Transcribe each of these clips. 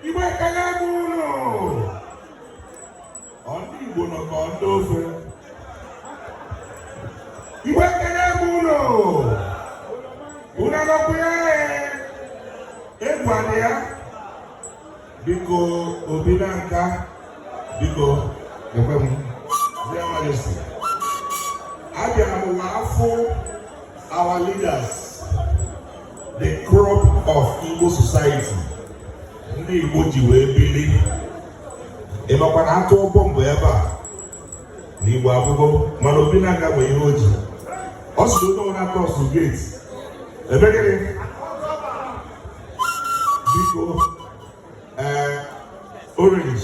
Igbo ekele m unu ndị Igbo nọ ka ndị ofe Igbo ekele m unu unu anọkwu ya egwu adị ya biko Obinanka biko ekwe m Their Majesties abịara m ụwa afọ our leaders the crop of Igbo society ndị Igbo ji wee bili ịmakwa na a tụọ bọmbụ ebe a na Igbo agwụgo mana Obinanka nwee ihe o ji ọ sịrị onye ọbụla cross gate ebe gịnị biko ee eh, orange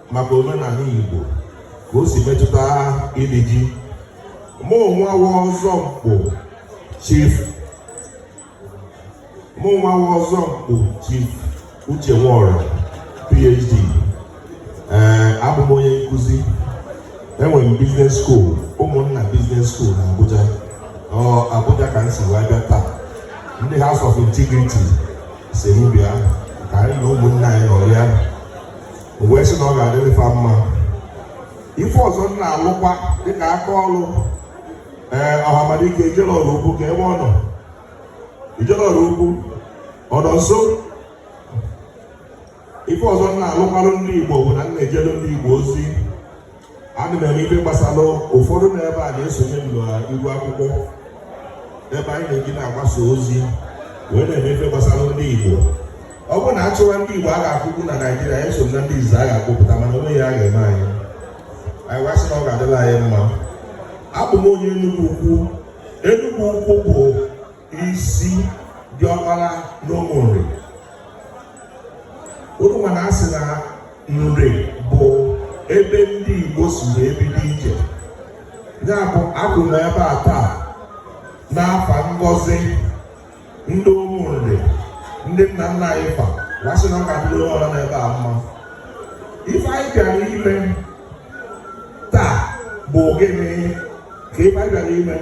maka omenala Igbo ka o si metụta ili ji mụnwa bụ Ọzọnkpụ chief mụnwa bụ Ọzọnkpụ chief Uche Nworah PhD ee eh, abụ m onye nkụzi enwere m business school Ụmụnna Business School na Abuja ọ Abuja ka m si wee bịa taa ndị House of Integrity sị m bịa ka anyị na ụmụnna anyị nọrịa wee sị na ọ ga-adịrị fa mma ife ọzọ m na-alụkwa dịka aka ọrụ ee ọhamadike Ijele Ọraukwu kee ebe ọ nọ Ijele Ọraukwu ọ nọ nso ife ọzọ m na-alụkwarụ ndị igbo bụ na m na-ejelu ndị igbo ozi ana m eme ife gbasara ụfọdụ na ebe a na-esonye m n'iru akwụkwọ ebe anyị na-eji na-agbasa ozi wee na-eme ife gbasara ndị Igbo ọ bụrụ na a chụwa ndị Igbo a ga-akwụkwụ na Naịjirịa anyị so na ndị izizi a ga-akpụpụta mana o nweghị ihe a ga-eme anyị anyị wee sị na ọ ga-adịlị anyị mma abụ m onye Enugwu Ukwu Enugwu Ukwu bụ isi diọkpara n'Ụmụnri unu ma na a sị na Nri bụ ebe ndị Igbo si wee bido ije ya bụ akwụ m ebe a taa n'afa ngọzi ndị Ụmụnri ndị nna nna anyị fa wee sị na ọ ga-adịrị ọra nọ ebe a mma ife anyị bịara ime taa bụ gịnị ka ife anyị bịara ime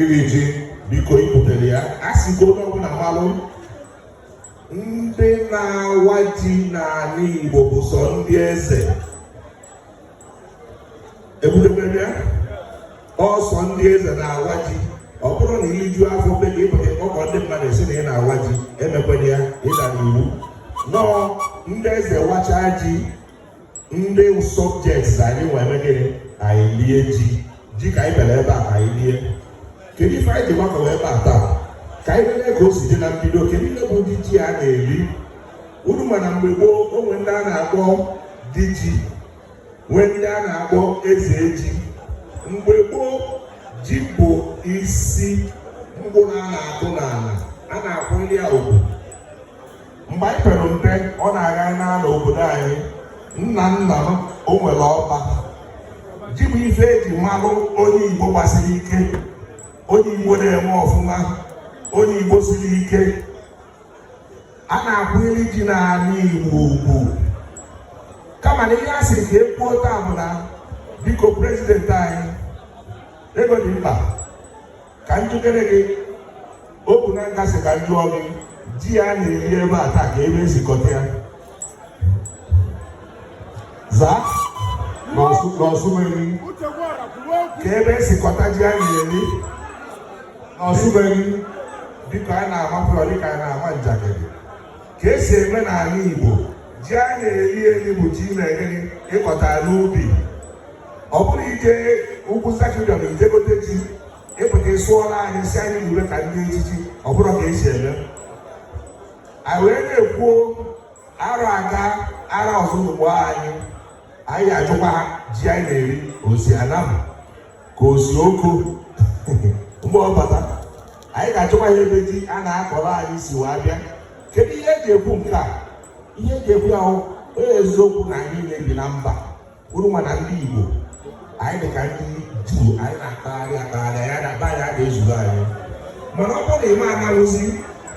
iri ji biko ibutere ya a sị ka onye ọbụla malụ ndị na-awa ji n'anị Igbo bụ sọ ndị eze ebudebere ya ọ sọ ndị eze na-awa ji ọ bụrụ na i liju afọ be gị ị pụta ị kpọkọ ndị mmadụ sị na ị na-awa ji emekwene ya ị dara iwu nọọ ndị eze wachaa ji ndị subjects anyị nwe eme gịnị anyị lie ji ji ka anyị bịara ebe a ka anyị lie kedu ife anyị ji gbakọrọ ebe a taa ka anyị lele ka o si dị na mbido kedu ihe bụ ụdị ji a na-eri unu ma na mgbe gboo o nwe ndị a na-akpọ di ji nwee ndị a na-akpọ eze ji mgbe gboo ji bụ isi mkpụrụ a na-akụ n'ala a na-akwanyere ya ugwu mgbe anyị pere mpe ọ na-aga n'ala obodo anyị nna nna m o nwere ọba ji bụ ife eji malụ onye igbo gbasiri ike onye igbo na-eme ọfụma onye igbo siri ike a na-akwanyere ji n'ala igbo ugwu kama na ihe a sị ka ekwuo taa bụ na biko president anyị ego dị mkpa ka m jụkene gị ọ bụ na m ga-asị ka m jụọ gị ji a na-eri ebe a taa ka ebe esi kọta ya zaa n'ọsụmeri ka ebe esi kọta ji a na-eri n'ọsụmeri dịka a na-amapụrụ dịka a na-ama njakịrị ka esi eme n'ala Igbo ji a na-eri eri bụ ji na-eri ị kọta n'ubi ọ bụrụ ị je ugwu sakidọm ị je gote ji ị bute ị sụọra anyị si anyị lie ka ndị echichi ọ bụrọ ka esi eme anyị wee na-ekwu arọ aga arọ ọzọ ugbo anyị anyị ga-ajụkwa ji anyị na-eri o si Anam ka o si Oko mgbe ọ bata anyị ga-ajụkwa ihe ebe ji a na-akọrọ anyị si wee bịa kedu ihe eji ekwu nke a ihe eji ekwu a bụ ọ eziokwu na anyị na-ebi na mba unu ma na ndị Igbo anyị dị ka ndị Juu anyị na-akpagharị akpagharị ya na be anyị a ga-ezuru anyị mana ọ bụrụ na ịma anawụzi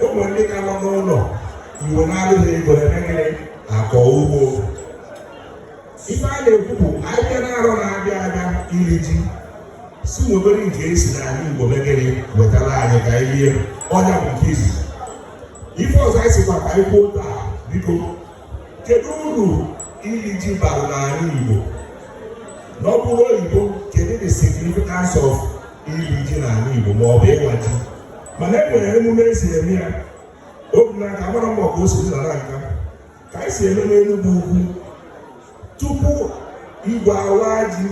ụmụ ndị ka nọ n'ụlọ Igbo na-adịghị ego eme gịnị akọ ugbo ife a na-ekwu bụ anyị bịa n'arọ na-abịa abịa iri ji si nwee obere nke esi n'ala Igbo me gịnị wetara anyị ka anyị lie ọ ya bụ nke izizi ife ọzọ anyị sikwa ka anyị kwuo taa biko kedu uru iri ji bara n'ala Igbo na ọ bụrụ oyibo kedu the significance of iri ji n'ala Igbo ma ọ bụ ịwa ji mana e nwere emume esi eme ya obi na-aka agbara mbọ ka o si dị na nka ka anyị si eme n'Enugwu Ukwu tupu igwe awaa ji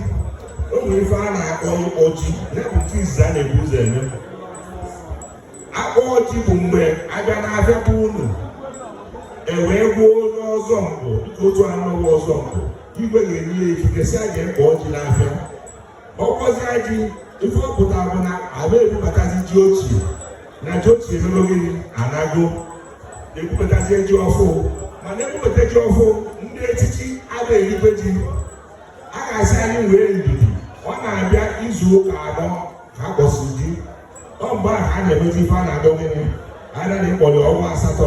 o nwere ife a na-akpọ ịkpọ ji ya bụ nke izizi a na-ebu ụzọ eme ịkpọ ji bụ mgbe abịa n'afịa bụ unu ewee gwa onye ọzọ mkpụ dịka otu anọghị ọzọ mkpụ igwe ga-enye ya ikike si ya je kpọọ ji n'afịa ọ kpọzie ji ife ọ pụta bụ na ama ebubatazi ji ochie na ji ochie emego gịnị anago ebubatazie ji ọfụ mana ebubata ji ọfụ ndị echichi ama erikwe ji a ga-asị anyị nwee ndidi ọ na-abịa izu ụka anọ ka a kpọsịrị ji ọ mgbe ahụ a na-emezi ife a na-akpọ gịnị a na-akpọrọ ọnwa asatọ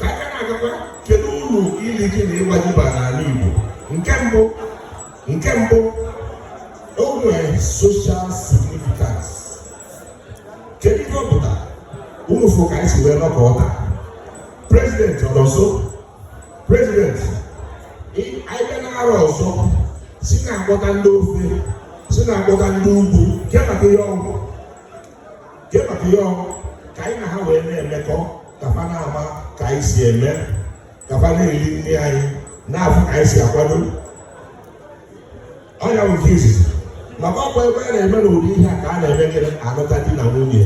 ka aka na-agakwa kedu uru ili ji na ịwa ji bara n'ala Igbo nke mbụ nke mbụ o nwere social significance kedu ihe ọ pụtara unu fụ ka anyị si wee nọkọọ taa president ọ nọ nso president anyị bịa n'arọ ọzọ si na-akpọta ndị ofe si na-akpọta ndị ugwu ke maka ihe ọ wụ ke maka ya ka anyị na ha wee na-emekọ ka fa na-ama ka anyị si eme ka fa na-eri nri anyị na-afụ ka anyị si akwado ọ nya bụ nke izizi maka ọ kwa ebe a na-eme n'ụdị ihe a ka a na-eme gịnị anụta di na nwunye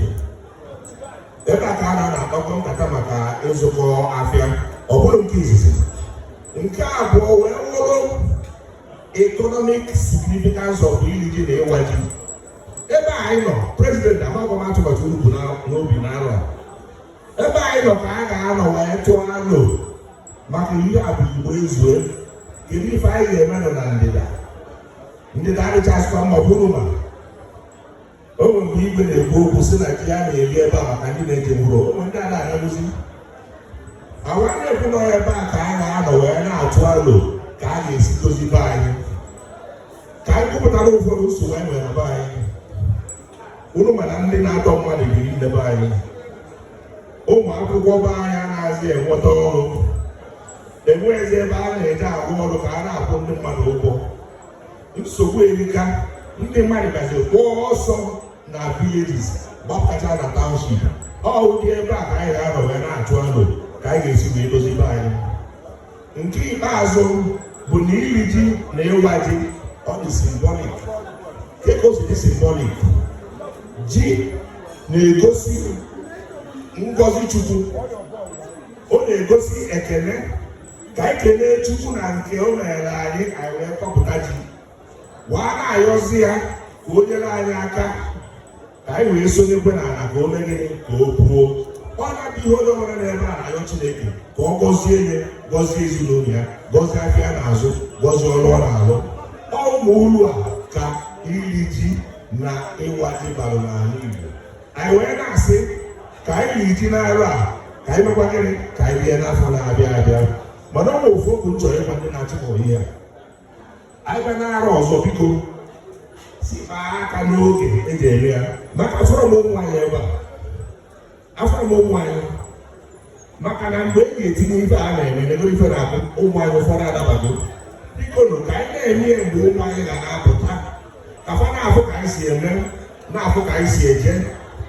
ebe a ka a na-akpakọ nkata maka ịzụkọ afịa ọ bụrụ nke izizi nke abụọ wee wụrụ economic significance of iri ji na ịwa ji ebe anyị nọ prezidenti amaghị m atụmatụ unu bu n'obi n'arọ ebe anyị nọ ka a ga-anọ wee tụọ alo maka ihe a bụ Igbo ezue kedu ife anyị ga-eme nọ na ndịda ndịda adịchasịkwa mma bụrụ ma o nwere mgbe igwe na-ekwu okwu si na ji ya na-eri ebe a maka ndị na-eje mkpụrụ ụmụ ndị a na-anagụzi awa na-ekwu na ọ ebe a ka a ga-anọ wee na-atụ alo ka a ga-esi dozi be anyị ka anyị kwupụtara ụfọdụ nsogbu anyị nwere na be anyị unu ma na ndị na-atọ mmadụ biri na be anyị ụmụ akwụkwọ be anyị anaghịzi enweta ọrụ enweghịzi ebe a na-eje arụ ọrụ ka a na-akwụ ndị mmadụ ụgwọ nsogbu erika ndị mmadụ gbazikwa ọsọ na villages gbapụtacha na township ọ ụdị ebe a ka anyị ga-anọ wee na-atụ alo ka anyị ga-esi wee dozi be anyị nke ikpeazụ bụ na iri ji na ịwa ji ọ dị symbolic ke ka o si dị symbolic ji na-egosi ngọzi Chukwu ọ na-egosi ekele ka anyị kelee Chukwu na nke o mere anyị anyị wee kọpụta ji wee na-ayọzi ya ka o nyere anyị aka ka anyị wee sonyekwe n'ala ka o mee gịnị ka o puo ọ na-adịghị onye ọbụla nọ ebe a na-ayọ Chineke ka ọ gọzie ya gọzie ezinụlọ ya gọzie afịa ọ na-azụ gọzie ọrụ ọ na-alụ ọ ụmụ ulu a ka iri ji na ịwa ji bara n'ala Igbo anyị wee na-asị ka anyị riri ji n'arọ a ka anyị mekwa gịnị ka anyị bịa n'afọ na-abịa abịa mana ọ bụ ofu okwu m chọrọ ịgwa ndị na-achịkọ ihe a anyị ga na-arịọ ọzọ biko si kpaa aka n'oge e ji eme ya maka afụrọ m ụmụ anyị ebe a afụrọ m ụmụ anyị maka na mgbe e ga-etinye ife a na-eme n'ebe ife na-abụ ụmụ anyị ụfọdụ adabago biko nụ ka anyị na-eme ya mgbe ụmụ anyị ga na-apụta ka fa na-afụ ka anyị si eme na-afụ ka anyị si eje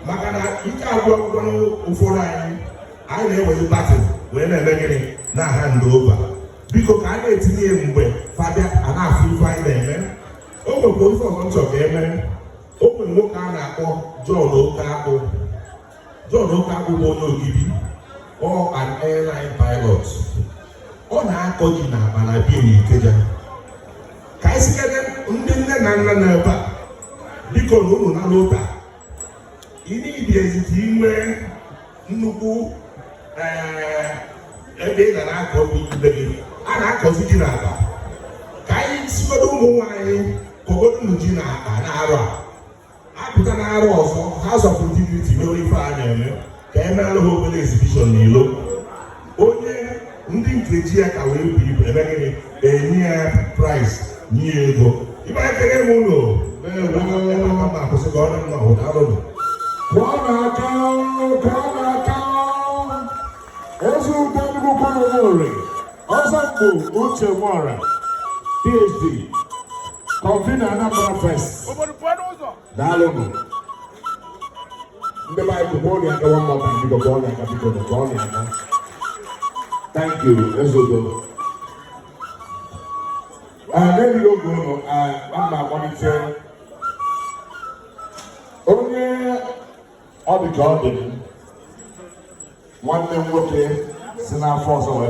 maka na ike agwụkwago ụfọdụ anyị anyị na-ewezi baton wee na-eme gịnị na-ahand over biko ka a na-etinye ya mgbe fa bịa a na-afụ ife anyị na-eme o nwekwa ife ọzọ m chọ ka e mee o nwere nwoke a na-akpọ John Okakpu John Okakpu bụ onye Ogidi ọ an airline pilot ọ na-akọ ji n'akpa na be ya na Ikeja ka anyị sịkene ndị nne na nna nọ ebe a biko na ụnụ na lota ị na-ebi ezite inwe nnukwu eh, ebe ị ga na-akọ ubi be gị a na-akọzi ji n'akpa ka anyị sịgodu ụmụ nwaanyị kọgodu nụ ji n'akpa n'arọ a apụta n'arọ ọzọ House of Integrity n'oge ife a na-eme ka e meere ha obere exhibition n'ilo onye ndị nke ji ya ka wee bu ibu e mee gịnị e nye ya prize nye ya ego ibe anyị ekene m ụnụ ma akwụsị ka ọ dị mma hụ daalụnụ kụọ nụ aka kụọ nụ aka Ezeudo Enugwu-Ukwu n'Ụmụnri Ọzọnkpụ Uche Nworah PhD convener Anambra Fest daalụnụ ndị be anyị kụkwa nụ aka nwanne ọba biko kụọ nụ aka biko kụọ nụ aka thank you Ezeudo n'egbughị oge ụnụ aga m akpọlite onye ọ dị ka ọ dị nwanne m nwoke si n'afọ ọzọ wee